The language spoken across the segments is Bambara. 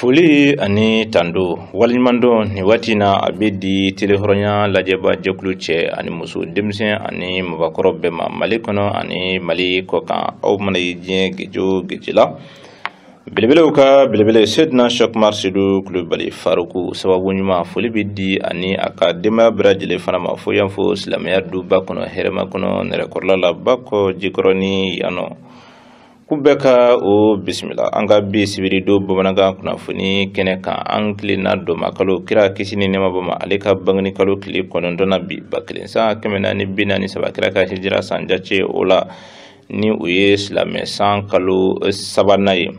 foli ani tando waleɲumandɔn nin waati in na a bɛ di tele hɔrɔnya lajɛba jɛkulu cɛ ani muso denmisɛn ani mabakɔrɔ bɛɛ ma mali kɔnɔ ani mali kɔkan aw mana ye diɲɛ geje o geje la belebelew ka belebele sedina shɛkumar sedu kulubali faruku sababu ɲuman foli bɛ di a ni a ka denbaya bɛɛ lajɛlen fana ma fo yan fo silamɛya duba kɔnɔ hɛrɛmakɔnɔ nɛrɛkɔrɔla la bakɔjikɔrɔni yan nɔ k'u bɛɛ ka u bisimila an ka bi sibiri don bamanankan kunnafoni kɛnɛ kan an tilenna dɔnba kalo kira kisi ni nɛɛma b'a ma ale ka bangeni kalo tile kɔnɔntɔn na bi ba kelen san kɛmɛ naani bi naani saba kira ka hijira san jace o la ni o ye silamɛ san kalo eh, sabanan ye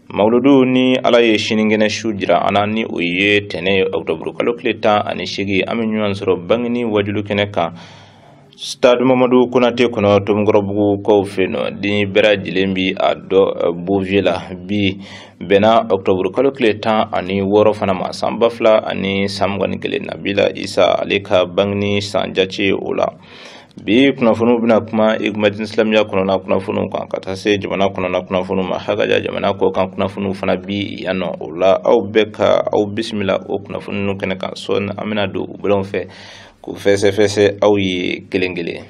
mawuludu ni ala ye sinikɛnɛ su jira an na ni o ye tɛnɛ ye ɔkutɔburu kalo tile tan ani seegin an bɛ ɲɔgɔn sɔrɔ bangeni wajulu kɛnɛ kan stade mamadu konate kɔnɔ tomikɔrɔbugu kɔw fɛ yen nɔ ni bɛɛ lajɛlen bi a dɔn eh, bouvier la bi bɛnna ɔkutɔburu kalo tile tan ani wɔɔrɔ fana ma san ba fila ani san mugan ni kelen nabila isa ale ka bangeni san jace o la bi kunnafoniw bɛna kuma ikomi diinɛ silamɛya kɔnɔna kunnafoniw kan ka taa se jamana kɔnɔna kunnafoniw ma hakaja jamana kɔ kan kunnafoniw fana bi yan nɔ o la aw bɛɛ ka aw bisimila o kunnafoni ninnu kɛnɛ kan sɔɔni an bɛna don u bolon fɛ k'u fɛsɛfɛsɛ aw ye kelen kelen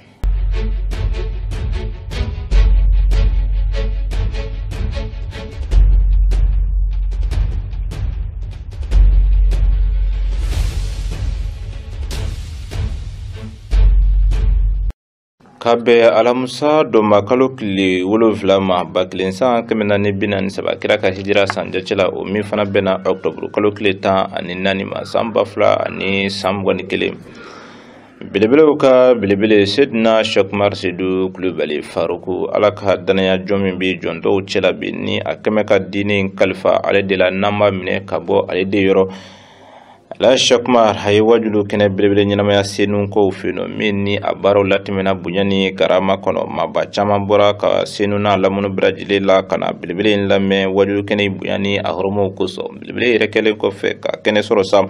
ka bɛn alamusa dɔnba kalo tile wolonfila ma ba kelen san kɛmɛ naani bi naani saba kira ka hijira san jace la o min fana bɛnna ɔkutɔburu kalo tile tan ani naani ma san ba fila ani san mugan ni kelen belebelew ka belebele sedina shɛkumar sedu kulubali faruku ala ka danaya jɔn min bɛ jɔn tɔw cɛla bi ni a kɛlen bɛ ka diinɛ kalifa ale de la n'an b'a minɛ ka bɔ ale de yɔrɔ la shɛkumar a ye wajulu kɛnɛ belebele ɲɛnamaya senu kow fɛ yen nɔ min ni a baaraw latɛmɛna bonya ni karama kɔnɔ maba caman bɔra ka senu n'a lamunu bɛɛ lajɛlen na ka na belebele in lamɛn wajulu kɛnɛ in bonya ni a horomaw kosɔn belebele yɛrɛ kɛlen kɔfɛ ka kɛnɛ sɔrɔ sa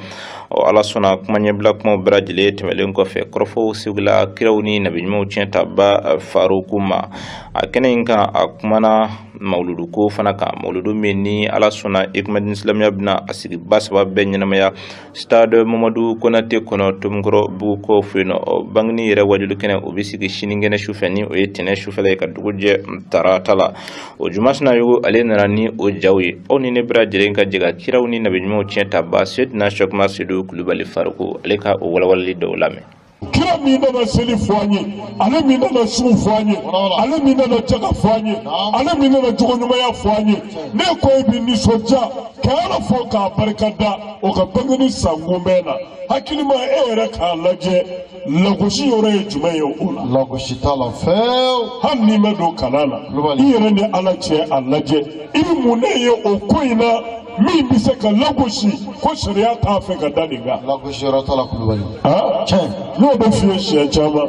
ɔ ala sɔnna kuma ɲɛbila kumaw bɛɛ lajɛlen tɛmɛlen kɔfɛ kɔrɔfɔw segila kiraw ni nabiɲumanw tiɲɛtaba faruku ma a kɛnɛ in kan a kumana mawuludu ko fana kan mawuludu min ni ala sɔnna ekumɛdini silamɛya bɛna a sigi ba saba bɛɛ ɲɛnamaya stade mamadu konate kɔnɔ tomikɔrɔbugu kɔ fɛ yen nɔ bangini yɛrɛ wajulu kɛnɛ o bɛ sigi sinikɛnɛ sufɛ ni o ye tɛnɛ sufɛla ye ka dugu jɛ tarata la o juma sinayogo ale nana ni o jaw ye aw ni ne bɛra lajɛlen ka jɛ ka kiraw ni nabiɲumanw tiɲɛtabaa sedina sɔkuma sedu kulubali faruku ale ka o walawalali dɔ lamɛn kira min nana seli fɔ an ye ale min nana sun fɔ an ye ale min nana jaga fɔ an ye ale min nana jogoɲumanya fɔ an ye ne ko e bɛ nisɔndiya ka ala fo k'a barika da o ka bangeni sankunbɛn na hakili ma e yɛrɛ k'a lajɛ lagosi yɔrɔ ye jumɛn ye o la. lagosi t'a la fewu. hali n'i ma don kalan na i yɛrɛ ni ala cɛ a lajɛ i bɛ mun ne ye o ko in na. min bɛ se ka lagosi ko sariya t'a fɛ ka da nin kan. lagosi yɔrɔ t'a la kulubali. aa tiɲɛ n'o de f'i ye siɲɛ caman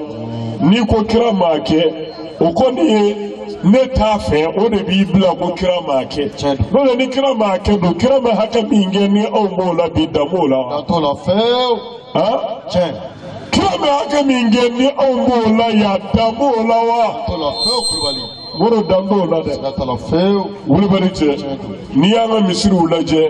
n'i ko kira m'a kɛ o kɔni ye ne t'a fɛ o de b'i bila ko kira m'a kɛ n'o tɛ ni kira m'a kɛ don kira ma hakɛ min kɛ ni anw b'o la bi dan b'o la wa. dan t'o la fewu. aa tiɲɛ. kira ma hakɛ min kɛ ni anw b'o la yan dan b'o la wa. dan t'o la fewu kulubali. Moro dan b'o la dɛ dan t'a la fewu wulibali cɛ n'i y'an ka misiriw lajɛ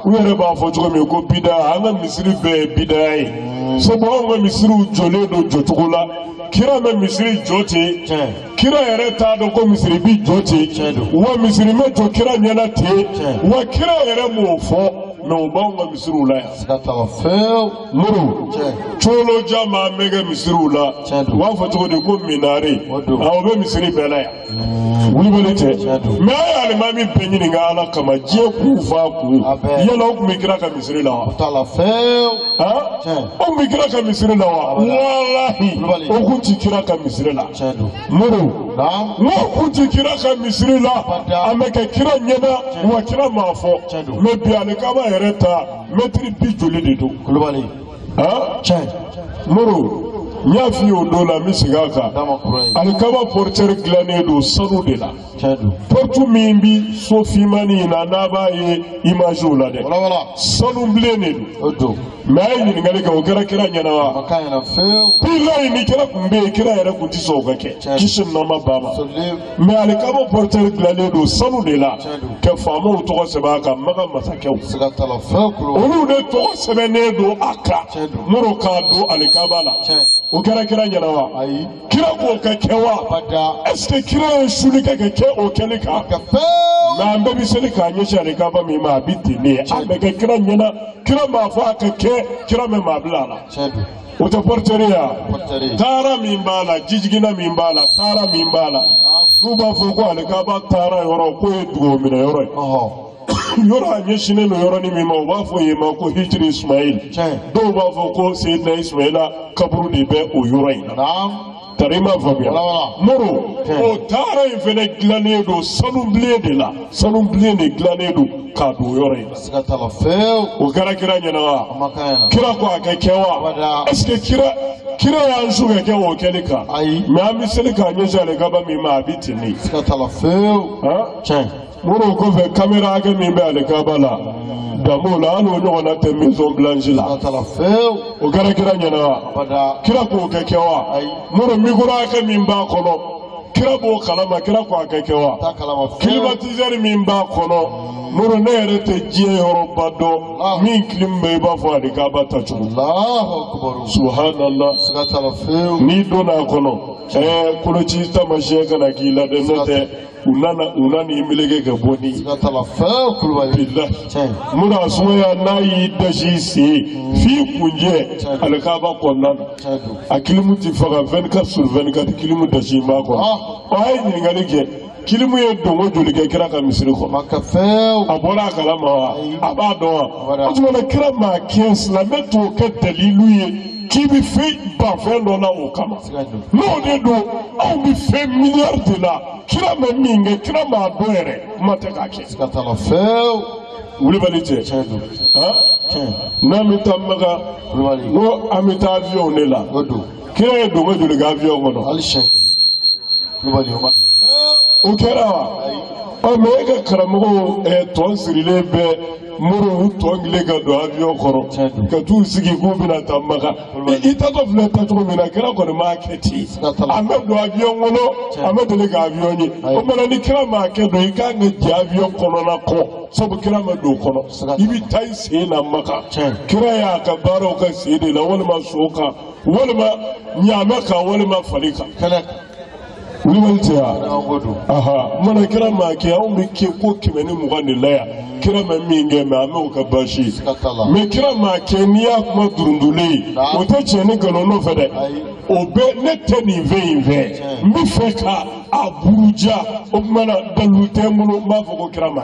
u yɛrɛ b'a fɔ cogo min ko bida an ka misiri bɛɛ ye bida ye hmm. sabu anw ka misiriw jɔlen don jɔcogo la kira ma misiri jɔ ten kira yɛrɛ t'a dɔn ko misiri bi jɔ ten wa misiri ma jɔ kira ɲɛna ten wa kira yɛrɛ m'o fɔ mɛ u b'anw ka misiriw la yan. moro colo jan min bɛ kɛ misiriw la u b'a fɔ cogo di ko minare o bɛ misiri bɛɛ la yan wulibali tɛ mɛ a ye alimami bɛɛ ɲininka ala kama diɲɛ k'u fa kun yala o kun bi kira ka misiri la wa o kun bi kira ka misiri la wa walahi o kun ti kira ka misiri la moro n'o kun ti kira ka misiri la a ma kɛ kira ɲɛna wa kira m'a fɔ mɛ bi alikaba yɛrɛ ta mɛtiri bi joli de don kulubali tiɲɛ moro n y'a f'i ye o don la n bɛ segin a kan alikaba pɔritɛri dilannen don sanu de la pɔritu min bi so finmani in na n'a b'a ye imaziw la dɛ sanu bilen de don mɛ a ye ɲininkali kɛ o kɛra kira ɲɛna wa bilayi ni kira kun bɛ yen kira yɛrɛ kun ti sɔn o ka kɛ kisi nɔma ba ma. mɛ alikaba pɔritɛri dilannen don sanu de la ka faamaw tɔgɔ sɛbɛn a kan maka masakɛw olu de tɔgɔ sɛbɛnnen don a kan minnu k'a don alikaba la o kɛra kira ɲɛna wa kira k'o ka kɛ wa ɛseke kira ye suli kɛ ka kɛ o kɛli kan mɛ an bɛɛ bɛ seli k'a ɲɛsin alikaba min ma a bɛ ten de a ma kɛ kira ɲɛna kira m'a fɔ a ka kɛ kira ma maa bila a la. O tɛ pɔritɛri ya taara min b'a la jijiginna min b'a la taara min b'a la n'u b'a fɔ ko alikaba taara yɔrɔ k'o ye dugawu minɛ yɔrɔ ye yɔrɔ a ɲɛsinnen don yɔrɔnin min ma u b'a fɔ yen ma ko hijiri ismail dɔw b'a fɔ ko seyidina ismaila kaburu de bɛ o yɔrɔ in na Tari ma faamuya Moro o taara in fana dilannen don sanubilen de la sanubilen de dilannen don k'a don yɔrɔ in o kɛra kira ɲɛna wa kira ko a ka kɛ wa est-ce que kira y'an su ka kɛ o kɛli kan mais an bɛ seli k'a ɲɛsin alikaba min ma a bɛ ten ne Moro o kɔfɛ kamera hakɛ min bɛ alikaba la danbo la hali o ɲɔgɔnna tɛ maison blanche la o kɛra kira ɲɛna wa kira k'o ka kɛ wa Moro micro hakɛ min b'a kɔnɔ kira b'o kalama kira ko a ka kɛ wa climatiseur min b'a kɔnɔ Moro ne yɛrɛ tɛ diɲɛ yɔrɔba dɔn min clim bɛ i b'a fɔ alikaba ta cogo subhanallah n'i donna a kɔnɔ ɛɛ koloci tamasiyɛn kana k'i la dɛ n'o tɛ u nana u nana i meleke ka bɔ siga t'a la fewu wulibali la muna sumaya n'a y'i dasi sen f'i kuncɛ alikaba kɔnɔna na a kilimu ti faga 24 sur 24 kilimu dasi b'a kɔnɔ ah. ɔ a ye ɲininkali kɛ kilimu ye donko joli kɛ kira ka misiri kɔnɔ a bɔra a kalama wa a b'a dɔn wa o tuma na kira m'a kɛ silamɛ t'o kɛ dalilu ye k'i bɛ fɛn ban fɛn dɔ la o kama. N'o de don anw bɛ fɛn miliyari de la kira ma min kɛ kira m'a dɔn yɛrɛ kuma tɛ k'a kɛ. Siga t'a la fewu. Wulibali tɛ. Tiɲɛ don. Tiɲɛ. N'an bɛ taa Maka. Wulibali. N ko an bɛ taa awiyɔnw de la. O don. Kira ye donko joli kɛ awiyɔn kɔnɔ. Hali sɛ. Wulibali o ma. O kɛra wa. Ɔ mɛ e ka karamɔgɔw ɛ tɔn sirilen bɛ Moro u tɔn kelen ka don awiyɔn kɔnɔ ka t'u sigi k'u bɛna taa Maka. i taatɔ filɛ taacogo min na kira kɔni m'a kɛ ten an bɛ don avion kɔnɔ an bɛ deli ka avion ye o maana ni kira m'a kɛ don i kan ka jɛ avion kɔnɔna kɔ sabu kira ma don o kɔnɔ i bɛ taa i sen na maka kira y'a ka baaraw k'a sen de la walima so kan walima ɲaamɛ kan walima fali kan. wulibali tɛ wa maana kira m'a kɛ anw bɛ kɛ ko kɛmɛ ni mugan de la yan kira ma min kɛ mɛ an bɛ o ka baasi mɛ kira m'a kɛ n'i y'a kuma durundulen ye o tɛ tiɲɛ ni nkalon nɔfɛ dɛ o bɛ ne tɛ nin fɛn in fɛ n bɛ fɛ ka a buruja o tuma na dalilu tɛ n bolo n b'a fɔ ko kira ma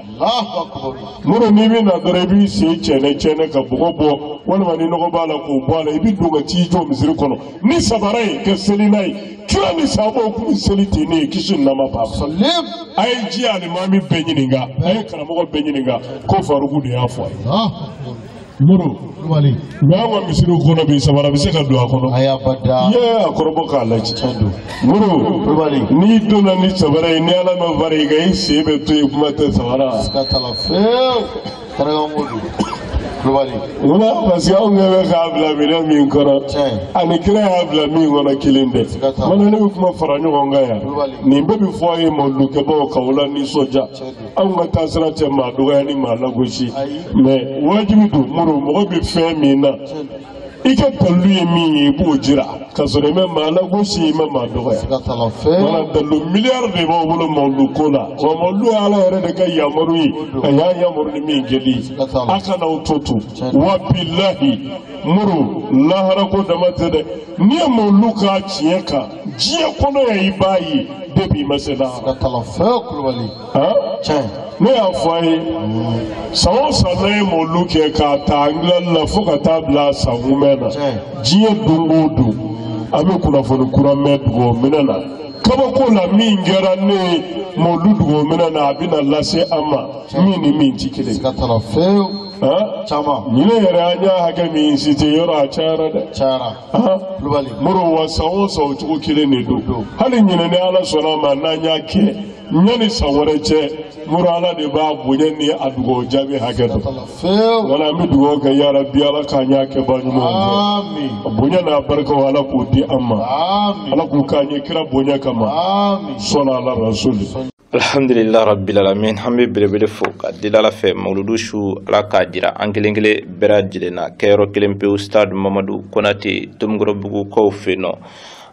Moro n'i bɛ na dɔrɔn i b'i sen cɛnɛ cɛnɛ ka bɔgɔ bɔ walima ni nɔgɔ b'a la k'o bɔ a la i bɛ don ka t'i jɔ misiri kɔnɔ ni sabara ye ka seli n'a ye kira ni sahabaw tun bɛ seli ten ne ye kisi ni nɛɛma b'a ma a ye diɲɛ alimami bɛɛ ɲininka a ye karamɔgɔ bɛɛ ɲininka ko faruku de y'a fɔ a ye. muru wali mais an ka misiri kɔnɔ bi sabara bɛ se ka don a kɔnɔ ayi abada i y'a kɔrɔbɔ k'a lajɛ tiɲɛ don muru wali n'i donna ni sabara ye ni ala ma fara i kan i sen bɛ to yen kuma tɛ sabara siga t'a la fewu karikan ko don wala parce que anw ɲɛ bɛ k'a bila minɛn min kɔnɔ tiɲɛ ani kira y'a bila min kɔnɔ kelen tɛ Siga t'a la. mun na ne bɛ kuma fara ɲɔgɔn kan yan Kulubali. nin bɛɛ bɛ fɔ a ye mawulukɛbaaw ka o la nisɔndiya tiɲɛ don anw ka taasira tɛ maa dɔgɔya ni maa lagosi mais wajibi don muru mɔgɔ bɛ fɛn min na i ka dalilu ye min ye i b'o jira ka sɔrɔ i ma maa lagosi i ma maa dɔgɔya wala dalilu miliyari de b'aw bolo mawulu ko la wa mawulu ye ala yɛrɛ de ka yamaru ye a y'a yamaru ni min kɛli ye a kana aw to to wa bilahi muru laharako dama tɛ dɛ n'i ye mawulu k'a tiɲɛ kan diɲɛ kɔnɔ yan i b'a ye depuis i ma se lahara. ka kalan fɛn kulubali. tiɲɛ. ne y'a fɔ a ye san o san n'an ye mɔlu kɛ k'a ta angilɛli la fo ka taa bila san kunbɛn na diɲɛ don o don an bɛ kunnafoni kura mɛn dugawu minɛ na kabako la min kɛra ne ye mɔlu dugawu minɛ na a bɛna lase an ma min ni min tɛ kelen. ka kalan fɛn caman. ɲinɛ yɛrɛ an y'a hakɛ min citer yɔrɔ a cayara dɛ. cayara. kulubali muru wa san o san o cogo kelen de don hali ɲinɛ ni ala sɔnna a ma n'an y'a kɛ yanni san wɛrɛ cɛ muru ala de b'a bonya ni a dugawu jaabi hakɛ dɔn fewu wala an bɛ dugawu kɛ ya rabi ala k'an y'a kɛbaa ɲuman ye ami a bonya n'a barikaw ala k'o di an ma ami ala k'u k'an ye kira bonya kama ami sɔnna ala rasuli alhamdulillah rabbil alamin an bɛ belebele fo ka deli ala fɛ mawuludu su ala k'a jira an kelen kelen bɛɛ lajɛlen na kɛyɔrɔ kelen pewu stade mamadu konate tomikɔrɔbugu kɔfɛ nɔ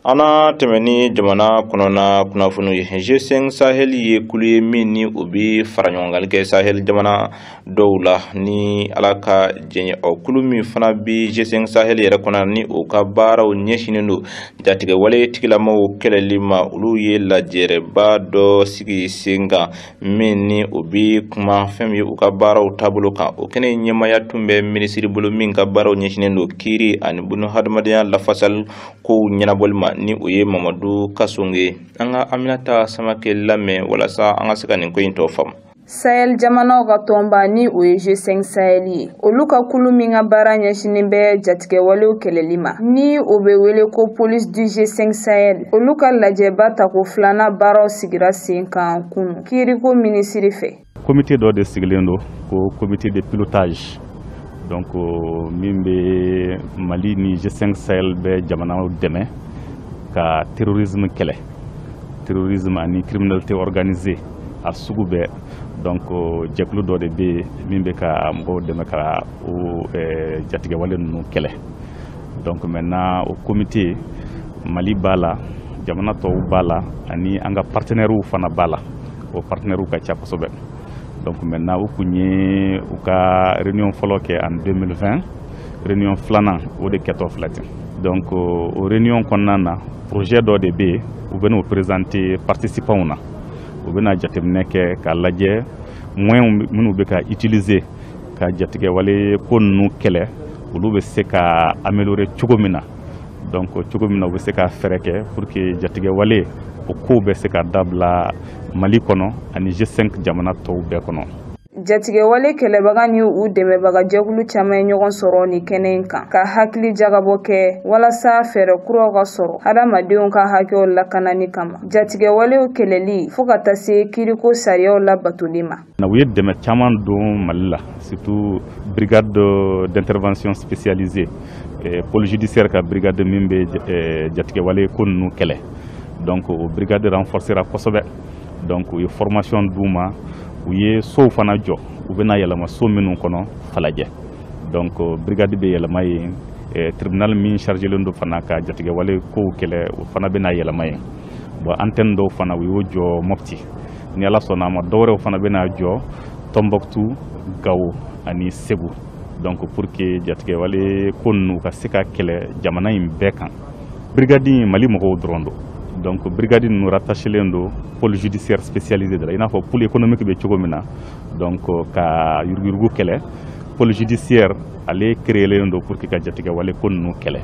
an na tɛmɛ ni jamana kɔnɔna kunnafoniw ye g5 sahel ye kulu ye min ni o bɛ faraɲɔgɔnkali kɛ sahel jamana dɔw la ni ala ka jɛɲɛ o kulu min fana bi g5 sahel yɛrɛ kɔnɔ ni o ka baaraw ɲɛsinen don jatigɛwale tigilamɔgɔw kɛlɛli ma olu ye lajɛrɛba dɔ sigi sen kan min ni o bi kuma fɛn ye u ka baaraw taabolo kan o kɛnɛ ɲɛmaya tun bɛ minisiri bolo min ka baaraw ɲɛsinen don kiiri ani bunu hadamadenya lafasali kow ɲɛnabɔli ma ni o ye mamadu kasoge an ka aminata samakɛ lamɛn walasa an ka se ka nin ko in tɔ faamu Sahel jamanaw ka tɔnba ni o ye G5 Sahel ye olu ka kulu min ka baara ɲɛsinen bɛ jatigɛwalew kɛlɛli ma ni o bɛ wele ko police du G5 Sahel olu ka lajɛba tako filanan baaraw sigira sen kan kunu kiiriko minisiri fɛ comité dɔ de sigilen don ko comité de pilotage donc euh, min bɛ Mali ni G5 Sahel bɛɛ jamanaw dɛmɛ ka terrorisme kɛlɛ terrorisme ani criminalité organisée a sugu bɛɛ donc euh, jɛkulu dɔ de bɛ yen min bɛ ka mɔgɔw dɛmɛ ka o euh, jatigɛwale ninnu kɛlɛ donc maintenant o komite mali b'a la jamana tɔw b'a la ani an ka partenairew fana b'a la o partenairew ka ca kosɛbɛ donc maintenant u kun ye u ka réunion fɔlɔ kɛ en 2020 réunion filanan o de kɛtɔ filɛ ten donc euh, o réunion kɔnɔna na projet dɔ de bɛ yen u bɛn'o présenter participantw na u bɛna jateminɛ kɛ k'a lajɛ moyenw minnu bɛ ka utiliser ka jatigɛwale ko ninnu kɛlɛ olu bɛ se ka améliorer cogo min na donc cogo min na u bɛ se ka fɛɛrɛ kɛ pour que jatigɛwale o kow bɛ se ka dabila mali kɔnɔ ani g5 jamana tɔw bɛɛ kɔnɔ jatigɛwale kɛlɛbaga ni u dɛmɛbaga jɛkulu caman ye ɲɔgɔn sɔrɔ nin kɛnɛ in kan ka hakili jagabɔ kɛ walasa fɛɛrɛ kuraw ka sɔrɔ hadamadenw ka hakɛw lakanani kama jatigɛwalew kɛlɛli fo ka taa se kiiriko sariyaw labatoli ma na u ye dɛmɛ caman don mali la surtout brigade d'intervention spécialisée eh, pôle judiciaire ka brigade min bɛ eh, jatigɛwale ko ninnu kɛlɛ donc o brigade renforcera kosɛbɛ donc u ye formation d'u ma u ye sow fana jɔ u bɛna yɛlɛma so minnu kɔnɔ falajɛ donc euh, brigade bɛ yɛlɛma yen euh, tribunal min chargelen don fana ka jatigɛwale kow kɛlɛ o fana bɛna yɛlɛma yen bon antenne dɔw fana u y'o jɔ mɔpti ni ala sɔnna a ma dɔwɛrɛw fana bɛna jɔ tɔnbɔkutu gawo ani segu donc pour que jatigɛwale ko ninnu ka se ka kɛlɛ jamana in bɛɛ kan birigadi mali mɔgɔw dɔrɔn don donc birigadi ninnu rattachelen don pôle judiciaire spécialisé de la i n'a fɔ pôle économique bɛ cogo min na donc euh, ka yuruguyurugu kɛlɛ pôle judiciaire ale créelen don pour que ka jatigɛwale ko ninnu kɛlɛ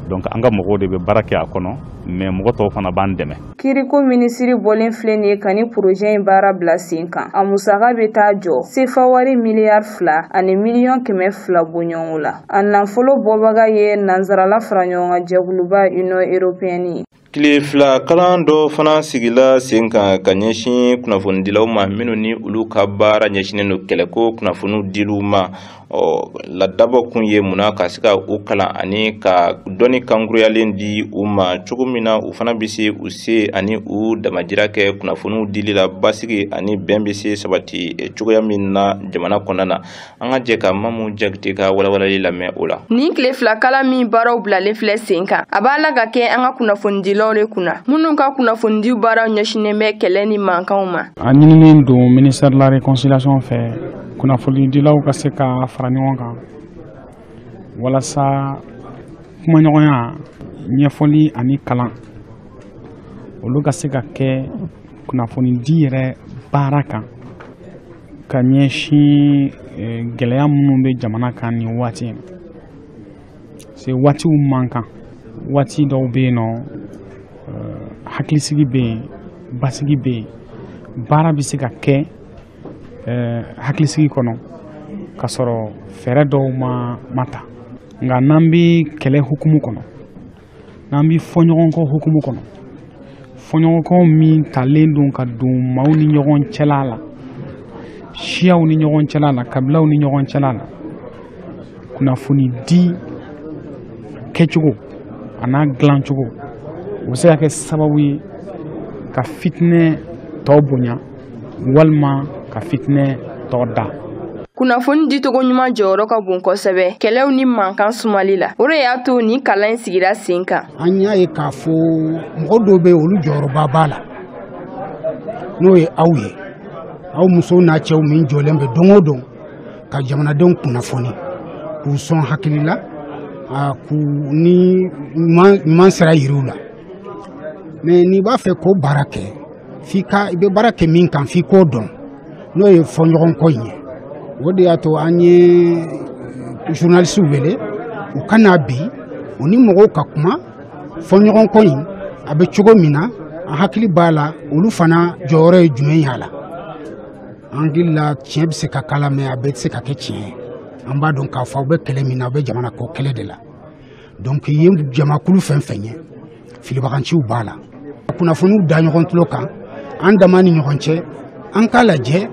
donc an ka mɔgɔw de bɛ baara kɛ a kɔnɔ mais mɔgɔ tɔw fana b'an dɛmɛ Kiriko minisiri bɔlen filɛ nin ye ka nin porozɛ in baara bila sen kan a musaka bɛ taa jɔ sefa wari miliyari fila ani miliyɔn kɛmɛ fila bɔɲɔgɔnko la a nafolo bɔbaga ye nansarala faraɲɔgɔnkan jɛkuluba Union européenne ye Tile fila kalan dɔ fana sigila sen kan ka ɲɛsin kunnafonidilaw ma minnu ni olu ka baara ɲɛsinnen don kɛlɛko kunnafoniw diliw ma o la dabɔ kun ye mun na ka se ka u kalan ani ka dɔnni kankuruyalen di u ma cogo min na u fana bɛ se u se ani u damajira kɛ kunnafoniw dili la basigi ani bɛn bɛ se sabati eh, cogoya min na jamana kɔnɔna na an ka jɛ ka mamu jakite ka walawalali lamɛn o la. nin tile fila kalan min baaraw bilalen filɛ sen kan a b'a la ka kɛ an ka kunnafonidilaw de kunna minnu ka kunnafonidiw baaraw ɲɛsinnen bɛ kɛlɛ ni mankanw ma. a ɲininen don ministère de la réconciliation fɛ kunnafonidilaw ka se ka fara ɲɔgɔn kan walasa kumaɲɔgɔnya ɲɛfɔli ani kalan olu ka se ka kɛ kunnafonidi yɛrɛ baara kan ka ɲɛsin eh, gɛlɛya minnu bɛ jamana kan nin waati in se waatiw man kan waati dɔw bɛ yen nɔ eh, hakilisigi bɛ yen basigi bɛ yen baara bɛ se ka kɛ hakilisigi kɔnɔ ka sɔrɔ fɛɛrɛ dɔw ma ta nka n'an bɛ kɛlɛ hukumu kɔnɔ n'an bɛ fɔɲɔgɔnkɔ hukumu kɔnɔ fɔɲɔgɔnkɔ min talen don ka don maaw ni ɲɔgɔn cɛla la siyaw ni ɲɔgɔn cɛla la kabilaw ni ɲɔgɔn cɛla la kunnafoni di kɛcogo a n'a dilancogo o bɛ se ka kɛ sababu ye ka fitinɛ tɔ bonya walima ka fitinɛ tɔ da kunnafoni dicogo ɲuman jɔyɔrɔ ka bon kosɛbɛ kɛlɛw ni mankan sumali la o de y'a to nin kalan in sigira sen kan an y'a ye k'a fɔ mɔgɔ dɔw bɛ olu jɔyɔrɔba b'a la n'o ye aw ye aw musow n'a cɛw min jɔlen bɛ don o don ka jamanadenw kunnafoni k'u sɔn hakili la k'u ni ɲuman sira yir'u la mais n'i b'a fɛ k'o baara kɛ f'i ka i bɛ baara kɛ min kan f'i k'o dɔn n'o ye fɔɲɔgɔnkɔ in ye o de y'a to an ye eh, journalistew wele u ka na bi u ni mɔgɔw ka kuma fɔɲɔgɔnkɔ in a bɛ cogo min na an hakili b'a la olu fana jɔyɔrɔ ye jumɛn y'a la an hakili la tiɲɛ bɛ se ka k'a la mais a bɛɛ tɛ se ka kɛ tiɲɛ ye an b'a dɔn k'a fɔ aw bɛ kɛlɛ min na aw bɛ jamana ko kɛlɛ de la donc i ye jamakulu fɛn fɛn ye filibaganciw b'a la kunnafoniw da ɲɔgɔn tulo kan an dama ni ɲɔgɔn cɛ an k'a lajɛ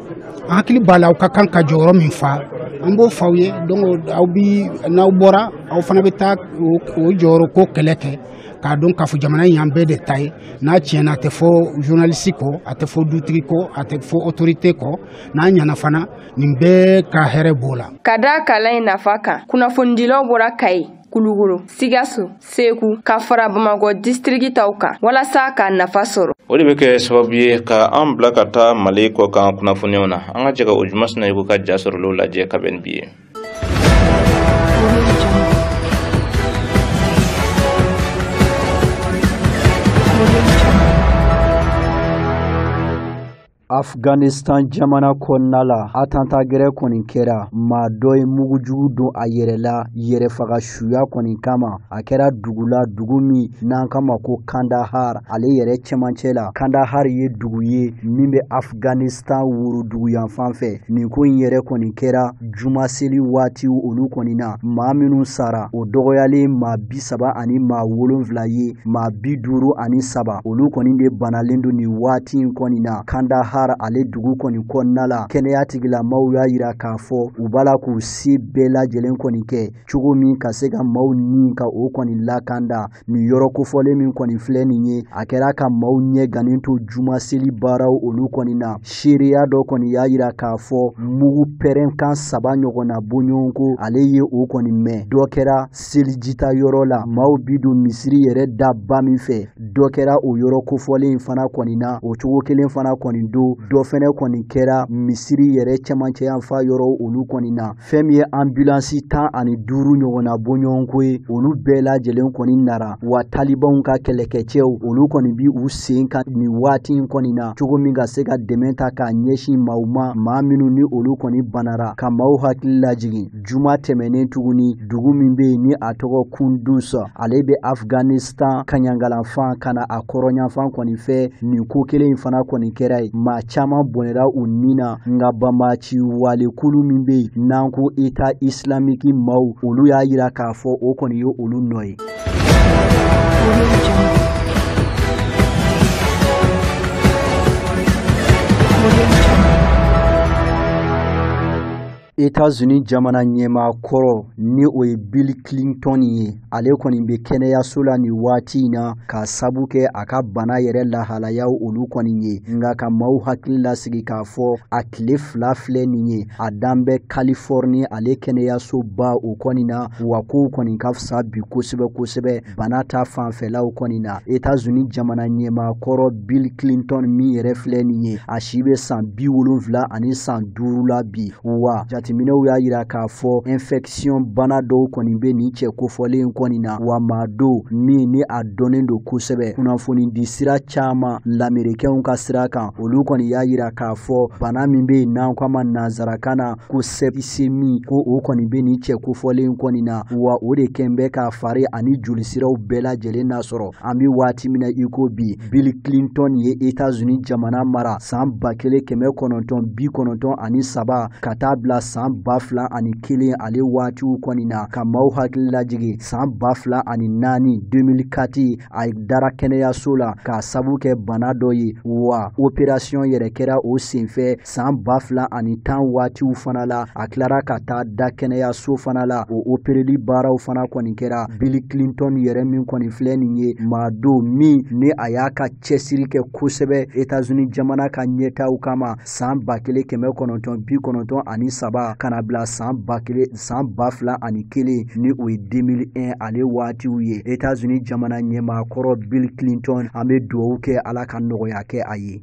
an hakili b'a la aw ka kan ka jɔyɔrɔ min fa an b'o f'aw ye donc aw bi n'aw bɔra aw fana bɛ taa o jɔyɔrɔ ko kɛlɛ kɛ k'a dɔn k'a fɔ jamana in y'an bɛɛ de ta ye n'a tiɲɛna a tɛ fɔ journaliste kɔ a tɛ fɔ dutigi kɔ a tɛ fɔ autorité kɔ n'a ɲɛna fana nin bɛɛ ka hɛrɛ b'o la ka da kalan in nafa kan kunnafonidilaw bɔra kayi kulukoro sikaso segu ka fara bamakɔ disitiriki taw kan walasa k'a nafa sɔrɔ o de bɛ kɛ sababu ye ka an bila ka taa mali kɔkan kunnafoniw na an ka jɛ ka ojuma sinayoko ka ja sɔrɔlenw lajɛ ka bɛn ni bi ye Afghanistan jamana kɔnɔna la attentat gɛrɛ kɔni kɛra maa dɔ ye mugujugu don a yɛrɛ la yɛrɛfaga suya kɔni kama a kɛra dugu la dugu min n'an k'a ma ko kandahar ale yɛrɛ cɛmancɛ la kandahar ye dugu ye min bɛ afghanistan worodugu yanfan fɛ nin ko in yɛrɛ kɔni kɛra juma seli waatiw olu kɔni na maa minnu sara o dɔgɔyalen maa bi saba ani maa wolonfila ye maa bi duuru ani saba olu kɔni de banalen don nin waati in kɔni na kandahar ale dugu kɔni kɔnɔna la kɛnɛya tigilamaaw y'a yira k'a fɔ u b'a la k'u se bɛɛ lajɛlen kɔni kɛ cogo min ka se ka maaw ni ka o kɔni lakanda nin yɔrɔ kofɔlen min kɔni filɛ nin ye a kɛra ka maaw ɲɛgannen to juma seli baaraw olu kɔni na seereya dɔ kɔni y'a yira k'a fɔ mugu pɛrɛnkan saba ɲɔgɔnna bɔɲɔgɔnko ale ye o kɔni mɛn dɔ kɛra selijita yɔrɔ la maaw bi don misiri yɛrɛ da ba min fɛ dɔ kɛra o yɔrɔ kofɔlen in fana kɔni na o cogo kelen fana kɔni don dɔ fɛnɛ kɔni kɛra misiri yɛrɛ cɛmancɛyanfan yɔrɔ olu kɔni na fɛn min ye anbulansi tan ani duuru ɲɔgɔnna bɔɲɔgɔnko ye olu bɛɛ lajɛlen kɔni nara wa talibanw ka kɛlɛkɛcɛw olu kɔni bi u sen kan nin waati in kɔni na cogo min ka se ka dɛmɛ ta k'a ɲɛsin maaw ma maa minnu ni olu kɔni banara ka maaw hakili lajigin juma tɛmɛnen tuguni dugu min bɛ yen ni a tɔgɔ kunduz ale bɛ afghanistan tan kaɲagayanfan ka na a kɔrɔnyanfan kɔni fɛ nin ko kelen in fana kɔni kɛra yen maa caman bɔnɛra u ni na nka banbaanci walekulu min bɛ yen n'an ko eta isilamiki maaw olu y'a yira k'a fɔ o kɔni ye olu nɔ ye Etats-Unis jamana ɲɛmaa kɔrɔ ni o ye Bill Clinton ye ale kɔni bɛ kɛnɛyaso la nin waati in na k'a sabu kɛ a ka bana yɛrɛ lahalayaw olu kɔni ye nka ka maaw hakili lasigi k'a fɔ a tile fila filɛ nin ye a dan bɛ Californie ale kɛnɛyasoba o kɔni na wa kow kɔni ka fisa bi kosɛbɛ kosɛbɛ bana ta fanfɛlaw kɔni na etazuni jamana ɲɛmaa kɔrɔ bill clinton min yɛrɛ filɛ nin ye a si bɛ san bi wolonfila ani san duuru la bi wa jateminɛw y'a yira k'a fɔ infɛkisiyɔn bana dɔw kɔni bɛ nin cɛ kofɔlen kɔni na wa maa don min ni a dɔnnen don kosɛbɛ kunnafoni di sira caman lamerikɛnw ka sira kan olu kɔni y'a yira k'a fɔ bana min bɛ yen n'an ko a ma nansarakan na ko septicémie ko o kɔni bɛ nin cɛ kofɔlen kɔni na wa o de kɛn bɛ k'a fari ani jolisiraw bɛɛ lajɛlen nasɔrɔ an bɛ waati min na i ko bi bill clinton ye etazuni jamana mara saan ba kelen kɛmɛ kɔnɔntɔn bi kɔnɔntɔn ani saba ka taa bila saan ba fila ani kelen ale waatiw kɔni na ka maaw hakili lajigi saan ba fila ani naani 2004 a dara kɛnɛyaso la k'a sabu kɛ bana dɔ ye wa operasiyɔn yɛrɛ kɛra o senfɛ san ba fila ani tan waatiw fana la a tilara ka taa da kɛnɛyaso fana la o opereli baaraw fana kɔni kɛra bill clinton yɛrɛ min kɔni filɛ nin ye maa don min ni a y'a ka cɛsiri kɛ kosɛbɛ etazuni jamana ka ɲɛtaw kama san ba kelen kɛmɛ kɔnɔntɔn bi kɔnɔntɔn ani saba ka na bila san ba fila ani kelen ni o ye 2001 ale waatiw ye etazuni jamana ɲɛmaa kɔrɔ bill clinton an bɛ dugawu kɛ ala ka nɔgɔya kɛ a ye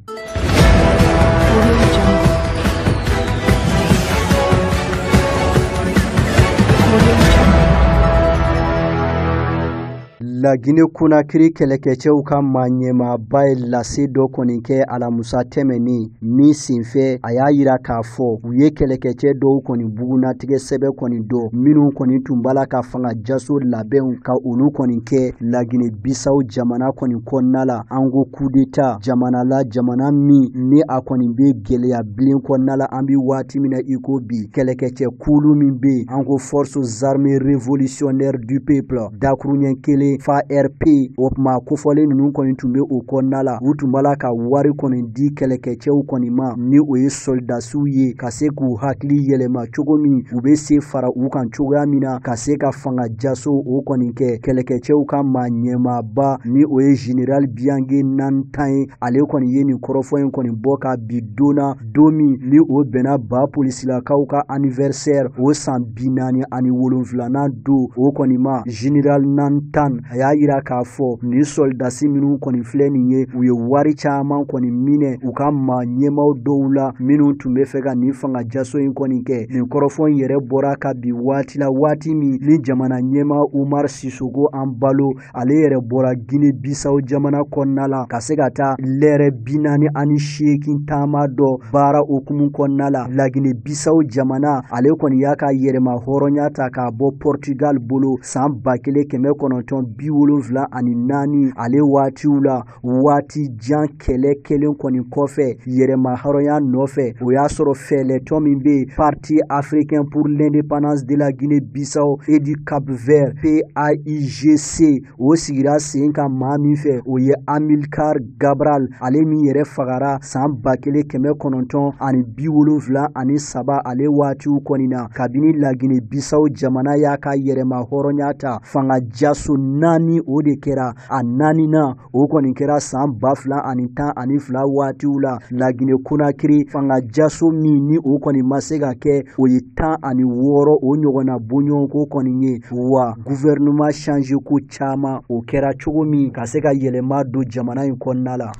Lagine Konakiri kɛlɛkɛcɛw ka maaɲɛmaaba ye lase dɔ kɔni kɛ alamusa tɛmɛnen min senfɛ a y'a yira k'a fɔ u ye kɛlɛkɛcɛ dɔw kɔni bugunnatigɛ sɛbɛn kɔni dɔn minnu kɔni tun b'a la ka fanga jaso labɛnw ka olu kɔni kɛ Lagine Bisawo jamana kɔni kɔnɔna la an ko kudeta jamana la jamana min ni a kɔni bɛ gɛlɛya bilen kɔnɔna la an bɛ waati min na i ko bi kɛlɛkɛcɛ kulu min bɛ yen an ko forces armées révolutionnaires du peuple dakuruɲɛ kelen farp o maa kofɔlen ninnu kɔni tun bɛ o kɔnɔna la u tun b'a la ka wari kɔni di kɛlɛkɛcɛw kɔni ma ni o ye sɔlidasiw ye ka se k'u hakili yɛlɛma cogo min u bɛ se fara u kan cogoya min na ka se ka fanga jaso o kɔni kɛ kɛlɛkɛcɛw ka maa ɲɛmaaba ni o ye general biague na ntan ye ale kɔni ye nin kɔrɔfɔ in kɔni bɔ ka bi don na don min ni o bɛnna ba polisilakaw ka anniversaire o san bi naani ani wolonfilanan don o kɔni ma general na ntan a y'a yira k'a fɔ nin sɔlidasi minnu kɔni filɛ nin ye u ye wari caman kɔni minɛ u ka maa ɲɛmaw dɔw la minnu tun b'a fɛ ka nin fanga jaso in kɔni kɛ Nin kɔrɔfɔ in yɛrɛ bɔra ka bi waati la waati min ni jamana ɲɛmaa Umar Sisoko Embalo ale yɛrɛ bɔra Guinée Bissau jamana kɔnɔna la ka se ka taa lɛrɛ bi naani ani seegin taama dɔ baara o hukumu kɔnɔna la La Guinée Bissau jamana ale kɔni y'a ka yɛrɛmahɔrɔnya ta k'a bɔ Portugal bolo san ba kelen kɛmɛ kɔnɔntɔn bi wolonwula ani naani ale waatiw la waati jan kɛlɛ kɛlen kɔni kɔfɛ yɛrɛma hɔrɔnya nɔfɛ o y'a sɔrɔ fɛɛlɛtɔn min bɛ yen parti africain pour l'indépendance de la guinée bissau et du cap vert paigc o sigira sen kan maa min fɛ o ye amilcar cabral ale min yɛrɛ fagara san ba kelen kɛmɛ kɔnɔntɔn ani bi wolonfila ani saba ale waatiw kɔni na kabini lagine bissau jamana y'a ka yɛrɛma hɔrɔnya ta fanga jaso naani o de kɛra a naaninan o kɔni kɛra san ba fila ani tan ani fila waatiw la lagine konakiri fangajaso min ni o kɔni ma se ka kɛ o ye tan ani wɔɔrɔ o ɲɔgɔnna bɔɲɔgɔnko kɔni ye wa gouvernement changé ko caman o kɛra cogo min ka se ka yɛlɛma don jamana in kɔnɔna la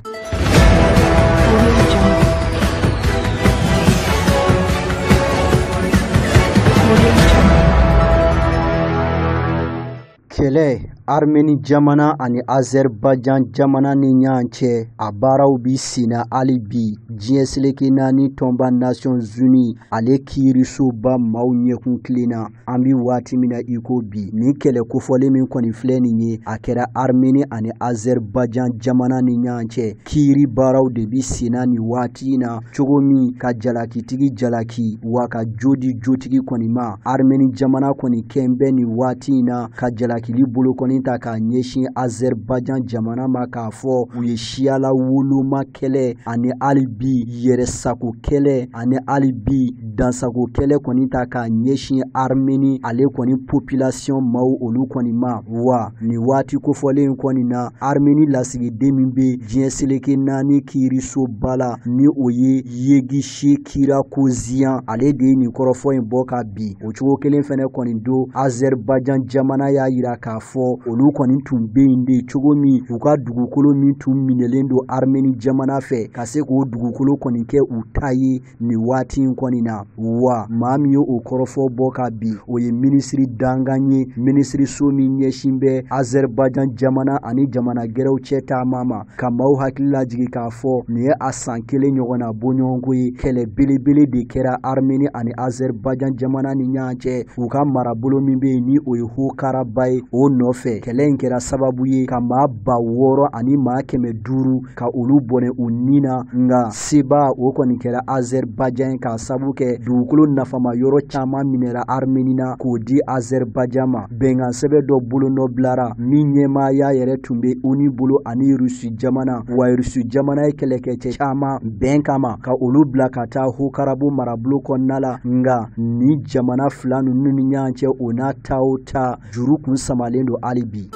Kɛlɛ Armeni jamana ani Azɛribajan jamana ni ɲɔgɔn cɛ, a baaraw bi senna hali bi diɲɛ seleke naani tɔnba Nations Unies ale kiirisoba maaw ɲɛkun tilenna. An bi waati min na i ko bi, nin kɛlɛ kofɔlen min kɔni filɛ nin ye, a kɛra Armeni ani Azɛribajan jamana ni ɲɔgɔn cɛ. Kiiri baaraw de bi senna nin waati in na cogo min ka jalakitigi jalaki wa ka jo di jotigi kɔni ma armeni jamana kɔni kɛn bɛ nin waati in na ka jalakili bolokɔni ta k'a ɲɛsin azɛribajan jamana ma k'a fɔ u ye siya lawoloma kɛlɛ ani hali bi yɛrɛsago kɛlɛ ani hali bi dansago kɛlɛ kɔni ta k'a ɲɛsin armeni ale kɔni population maaw olu kɔni ma wa nin waati kofɔlen kɔni na armeni lasigiden min be diɲɛ seleke naani kiirisoba la ni o ye yeghishe kirakosyan ale de ye nin kɔrɔfɔ in bɔ ka bi o cogo kelen fɛnɛ kɔni don azɛribajan jamana y'a yira k'a fɔ olu kɔni tun be yen de cogo min u ka dugukolo min tun minɛlen don armeni jamana fɛ ka se k'o dugukolo kɔni kɛ u ta ye nin waati in kɔni na wa maa min ye o kɔrɔfɔ bɔ ka bi o ye minisiri dankan ye minisiriso min ɲɛsin bɛ azɛribajan jamana ani jamana gɛrɛw cɛ taama ma ka maaw hakili lajigi k'a fɔ nin ye a san kelen ɲɔgɔnna bɔɲɔgɔnko ye kɛlɛ belebele de kɛra armeni ani azɛribajan jamana ni ɲɔgɔn cɛ u ka marabolo min bɛ yen ni o ye haut-karabakh ye o nɔfɛ kɛlɛ in kɛra sababu ye ka maa ba wɔɔrɔ ani maa kɛmɛ duuru ka olu bɔnɛ u ni na nka sebaa o kɔni kɛra azɛribajan k'a sabu kɛ dugukolo nafama yɔrɔ caaman minɛra armeni na k'o di azɛribajan ma bɛnkan sɛbɛn dɔ bolo nɔ bilara min ɲɛmaaya yɛrɛ tun be onu bolo ani rusi jamana wa rusi jamana ye kɛlɛkɛcɛ caaman bɛn kama ka olu bila ka taa haut-karabakh marabolo kɔnɔna la nga nin jamana fila nunu ni ɲɔgɔn cɛ o n'a ta o ta juru kun samalen don hali bi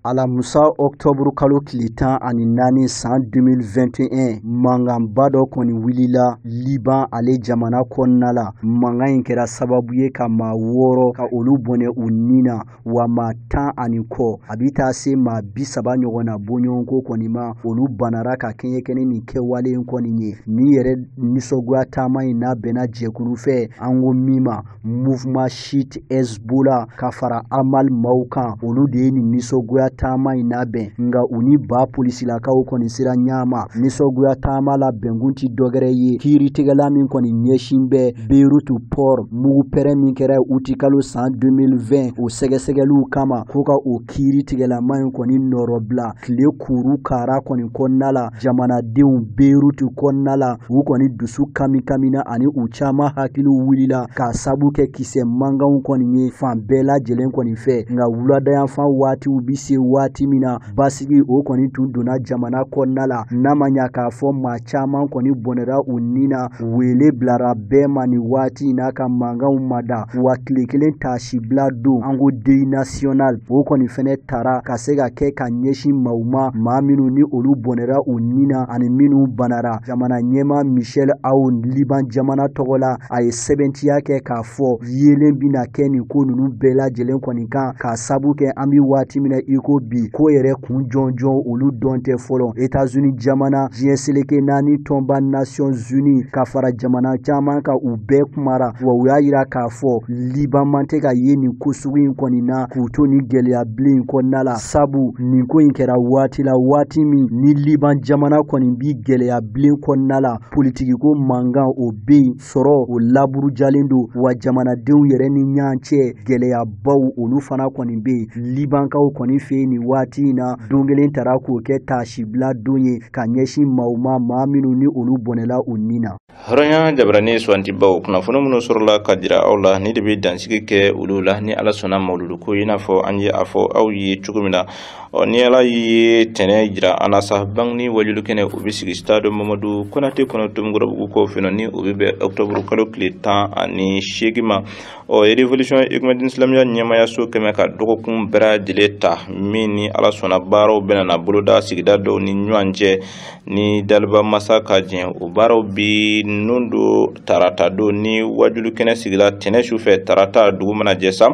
alamusa ɔktɔburu kalo tile tan ani naani san 2021 mankanba dɔ kɔni wulila liban ale jamana kɔnɔna la mankan in kɛra sababu ye ka maa wɔɔrɔ ka olu bɔnɛ u ni na wa maa tan ani kɔ a bi taa se maa bi saba ɲɔgɔn na bɔɲɔgɔnko kɔni ma olu banara ka kɛɲɛ kɛ ni nin kɛwale in kɔni ye ni yɛrɛ nisɔngoya taama in nabɛnna jɛkulu fɛ an ko min ma mouvement chiite hezbollah ka fara amal maaw kan olu de ye nin nisɔngoya taama in labɛn nka u ni liban polisilakaw kɔni sera ɲɔgɔn ma nisɔngoya taama labɛnkun ti dɔgɛrɛ ye kiiritigɛla min kɔni ɲɛsin bɛ Beirutu port mugu pɛrɛn min kɛra utikalo san 2020 o sɛgɛsɛgɛliw kama ko ka o kiiritigɛlamaa in kɔni nɔrɔbila tile kuru kara kɔni kɔnɔna la jamanadenw Beirutu kɔnɔna la u kɔni dusu kamikamina ani u caman hakiliw wulila k'a sabu kɛ kisɛ mankanw kɔni ye fan bɛɛ lajɛlen kɔni fɛ nka wuladayanfan waatiw bi se waati min na basigi o kɔni tun donna jamana kɔnɔna la n'a ma ɲa k'a fɔ maa caman kɔni bɔnɛra u ni na wele bilara bɛɛ ma nin waati na ka mankanw mada wa tile kelen taasibila don an ko deuil national o kɔni fɛnɛ tara ka se ka kɛ ka ɲɛsin maaw ma maa minnu ni olu bɔnɛra u ni na ani minnu banara jamana ɲɛmaa michel aoun liban jamana tɔgɔ la a ye sɛbɛntiya kɛ k'a fɔ yelen bɛna kɛ nin ko ninnu bɛɛ lajɛlen kɔni kan k'a sabu kɛ an bɛ waati min na i ko bi ko yɛrɛ kun jɔnjɔn olu dɔn tɛ fɔlɔ etazuni jamana diɲɛ seleke naani tɔnba nasiyɔn zuni ka fara jamana caman kan u bɛɛ kumara wa u y'a yira k'a fɔ liban man tɛ ka ye nin ko sugu in kɔni na k'u to nin gɛlɛya bilen in kɔnɔna la sabu nin ko in kɛra waati la waati min ni liban jamana kɔni bi gɛlɛya bilen kɔnɔna la politikiko mankan o bɛ yen sɔrɔ o laburujalen don wa jamanadenw yɛrɛ ni ɲɔgɔn cɛ gɛlɛyabaw olu fana kɔni bɛ yen libankaw kɔni fɛ nin waati in na don kelen tara k'o kɛ taasibila don ye ka ɲɛsin maaw ma maa minnu ni olu bɔnɛla u ni na hɔrɔnya jabarani suwantibaw kunnafoni minnu sɔrɔla ka jira aw la ni de bɛ dansigi kɛ olu la ni ala sɔnna mawuludu ko i n'a fɔ an ye a fɔ aw ye cogo min na ɔ ni ala ye tɛnɛn jira an na sa bangini wajulu kɛnɛ o bɛ sigi stade mamadu konate kɔnɔ tomikɔrɔbugu kɔ fɛ ni o bɛ bɛn octobre kalo tile tan ani seegin ma ɔ révolution écumédine silamiya ɲɛmaayaso kɛmɛ ka dɔgɔkun bɛɛ lajɛlen ta min ni ala sɔnna baaraw bɛna na boloda sigida dɔw ni ɲɔgɔn cɛ ni daliba masa ka jɛn o baaraw bi nun don tarata don ni wajulu kɛnɛ sigila tɛnɛn su fɛ tarata dugu mana jɛ sa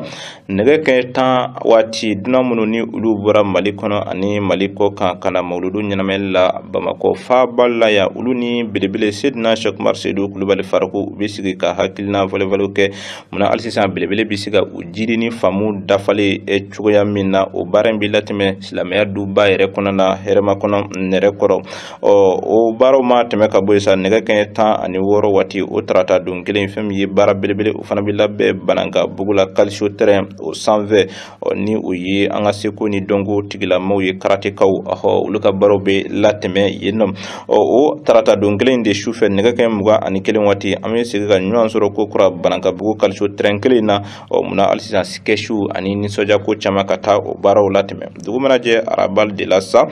nɛgɛ kɛɲɛ tan waati dunan minnu ni olu bɔra mali kɔnɔ ani mali kɔ kan ka na mawuludu ɲɛnamayali la bamakɔ faaba la yan olu ni belebele sedina sɛkumar sedu kulubali faruku u bɛ sigi ka hakilina falenfalenw kɛ munna hali sisan belebele bɛ se ka u jiri ni faamu dafalen ye cogoya min na o baara in bɛ latɛmɛ silamɛya duba yɛrɛ kɔnɔ na hɛrɛmakɔnɔ nɛrɛkɔrɔ ɔ o baaraw ma tɛmɛ ka bɔ yen sa nɛgɛ kɛɲɛ tan ani wɔɔrɔ waati o tarata don kelen fɛn min ye baara belebele o fana bɛ labɛn banankabugu la kaliso tɛrɛn o sanfɛ ɔ ni o ye an ka seko ni dɔnko tigilamɔgɔw ye karatekaw ɔhɔ olu ka baaraw bɛ latɛmɛ yen nɔ ɔ o tarata don kelen de sufɛ nɛgɛ kɛɲɛ mugan ani kelen waati an bɛ segin ka ɲɔgɔn sɔrɔ ko kura banankabugu kaliso tɛrɛn kelen na ɔ munna hali sisan sikɛciw ani nisɔndiya ko caman ka taa o baaraw latɛmɛ dugu mana jɛ araba de la sa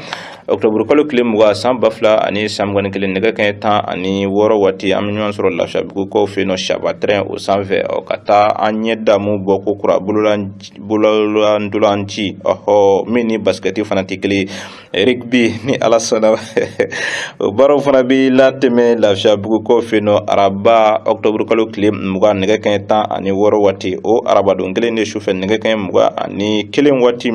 octobre kalo tile mugan san ba fila ani san mugan ni kelen nɛgɛ kaɲɛ tan ani wɔɔrɔ waati an bɛ ɲɔgɔn sɔrɔ lafiyabugukaw fɛ yen nɔ shaba tɛrɛn o sanfɛ ɔ ka taa an ɲɛ damu bɔ ko kura bololantolanci ɔhɔ min ni basikɛti fana tɛ kelen rigbi ni ala sɔnna o baaraw fana bɛ latɛmɛ lafiyabugukaw fɛ yen nɔ araba octobre kalo tile mugan nɛgɛ kaɲɛ tan ani wɔɔrɔ waati o arabadon kelen de sufɛ nɛgɛ kaɲɛ mugan ani kelen waati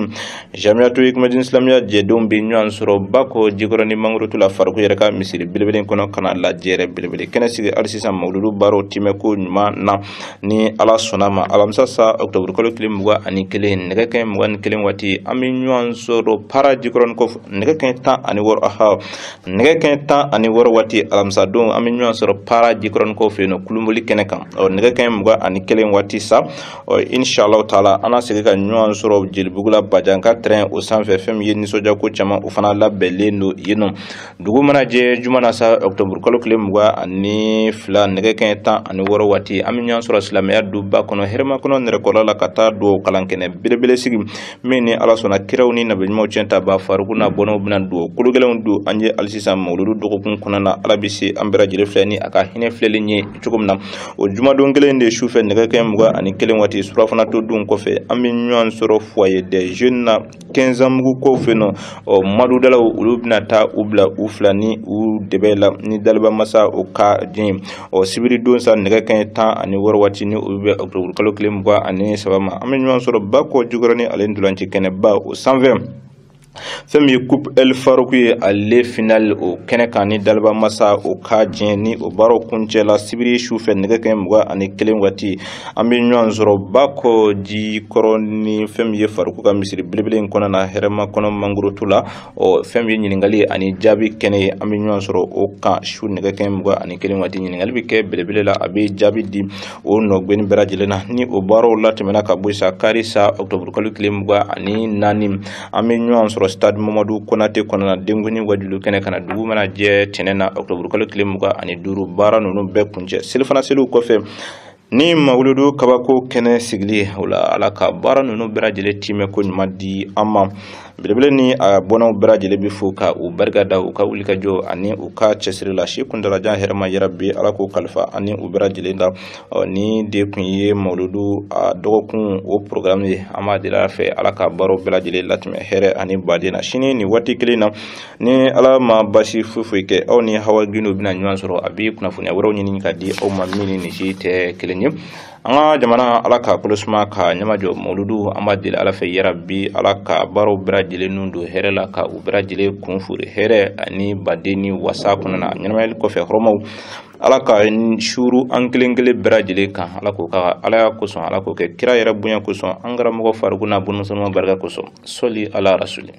jamiyatu hikimadin silamɛya jɛdenw bɛ ɲɔgɔn sɔrɔ bakɔ jikɔrɔni mangurutu la faruku yɛrɛ ka misiri belebele kɔnɔ ka na lajɛrɛ belebele kɛnɛ sigi hali sisan mawuludu baaraw tɛmɛ ko ɲuman na ni ala sɔnna a ma alamisa sa ɔkutɔburu kalo tile mugan ani kelen nɛgɛ kɛɲɛ mugan ni kelen waati an bɛ ɲɔgɔn sɔrɔ para jikɔrɔnikaw fɛ nɛgɛ kɛɲɛ tan ani wɔɔrɔ aha nɛgɛ kɛɲɛ tan ani wɔɔrɔ waati alamisa don an bɛ ɲɔgɔn sɔrɔ para jikɔrɔnikaw fɛ yen nɔ kulubali kɛnɛ kan ɔ nɛgɛ kɛɲɛ mugan ani kelen waati sa ɔ inshallah taala an na segin ka ɲɔgɔn sɔrɔ jelibugu la bajan ka tɛrɛn o sanfɛ fɛn min ye nisɔndiya ko caman o fana labɛnlen don yen nɔ dugu mana jɛ juma na sa ɔkutɔburu kalo tile mugan ani fila nɛgɛ kɛɲɛ tan ani wɔɔrɔ waati an bɛ ɲɔgɔn sɔrɔ silamɛya duba kɔnɔ hɛrɛmakɔnɔ nɛrɛkɔrɔ la ka taa dugawu kalan kɛnɛ belebele sigi min ni ala sɔnna kiraw ni nabiɲumanw ciyɛntabaa faruku ni a bɔɲɔgɔnw bɛna dugawu kologɛlɛnw don an ye hali sisan mawuludu dɔgɔkun kɔnɔna na ala bɛ se an bɛɛ lajɛlen filɛ ni a ka hinɛ filɛli ye cogo min na o jumadon kelen de sufɛ nɛgɛ kɛɲɛ mugan ani kelen waati surafana to dun kɔfɛ an bɛ ɲɔgɔn sɔrɔ foyer des jeunes na kɛnsanbugukaw fɛ yen nɔ ɔ madudalaw olu bɛna taa u bila u fila ni u dɛbɛ la ni daliba masa o ka diɲɛ ɔ sibiri don sa nɛgɛ kɛɲɛ tan ani wɔɔrɔ waati ni o bɛ bɛn octobre kalo tile mugan ani saba ma an bɛ ɲɔgɔn sɔrɔ bakɔ jikɔrɔni ale ntolanci kɛnɛba o sanfɛ fɛn min ye coupe el farouk ye ale finali o kɛnɛ kan ni daliba masa o ka diɲɛ ni o baaraw kuncɛla sibiri su fɛ nɛgɛ kɛɲɛ mugan ani kelen waati an bɛ ɲɔgɔn sɔrɔ bakɔ jikɔrɔni fɛn min ye farouk ka misiri belebele in kɔnɔ na hɛrɛmakɔnɔ mangurutu la ɔ fɛn min ye ɲininkali ani jaabi kɛnɛ ye an bɛ ɲɔgɔn sɔrɔ o kan su nɛgɛ kɛɲɛ mugan ani kelen waati ɲininkali bɛ kɛ belebele la a bɛ jaabi di o nɔgɛnni bɛɛ lajɛlen na ni o baaraw latɛmɛna ka bɔ yen sa kari sa ɔtoburukalo tile mugan ani naani an bɛ ɲɔgɔn sɔrɔ stade mamadu konate kɔnɔna denkunni wajulu kɛnɛ kana dugu mana jɛ tɛnɛ na ɔtoburukalo tile mugan ani duuru baara ninnu bɛ kuncɛ selifana seliw kɔfɛ ni mawuludu kabako kɛnɛ sigili o la ala ka baara ninnu bɛɛ lajɛlen timɛko ɲuman di an ma belebele ni a bɔnnaw bɛɛ lajɛlen bɛ fo ka u barika da u ka wulikajɔ ani u ka cɛsiri la si kuntalajan hɛrɛma yarabi ala k'o kalifa ani u bɛɛ lajɛlen na nin de tun ye mawuludu a dɔgɔkun o programme ye an b'a deli ala fɛ ala ka baaraw bɛɛ lajɛlen latimɛ hɛrɛ ani baden na sini nin waati kelen na ni ala ma basi foyi foyi kɛ aw ni hawa gindo bɛna ɲɔgɔn sɔrɔ a bɛ kunnafoniya wɛrɛw ɲini ka di aw ma min ni nin si tɛ kelen ye an ka jamana ala k'a kolo suma k'a ɲamajɔ mawuludu an b'a deli ala fɛ yarabi ala ka baaraw bɛɛ lajɛlen nun don hɛrɛ la ka u bɛɛ lajɛlen kun foori hɛrɛ ani baden ni wasa kɔnɔna ɲɛnamayali kɔfɛ hɔrɔmaw ala k'a suuru an kelen kelen bɛɛ lajɛlen kan ala k'o k'a ka alaya kosɔn ala k'o kɛ kira yɛrɛ bonya kosɔn an karamɔgɔ farikun n'a bɔnnaw sanuman barika kosɔn sɔli ala rasuli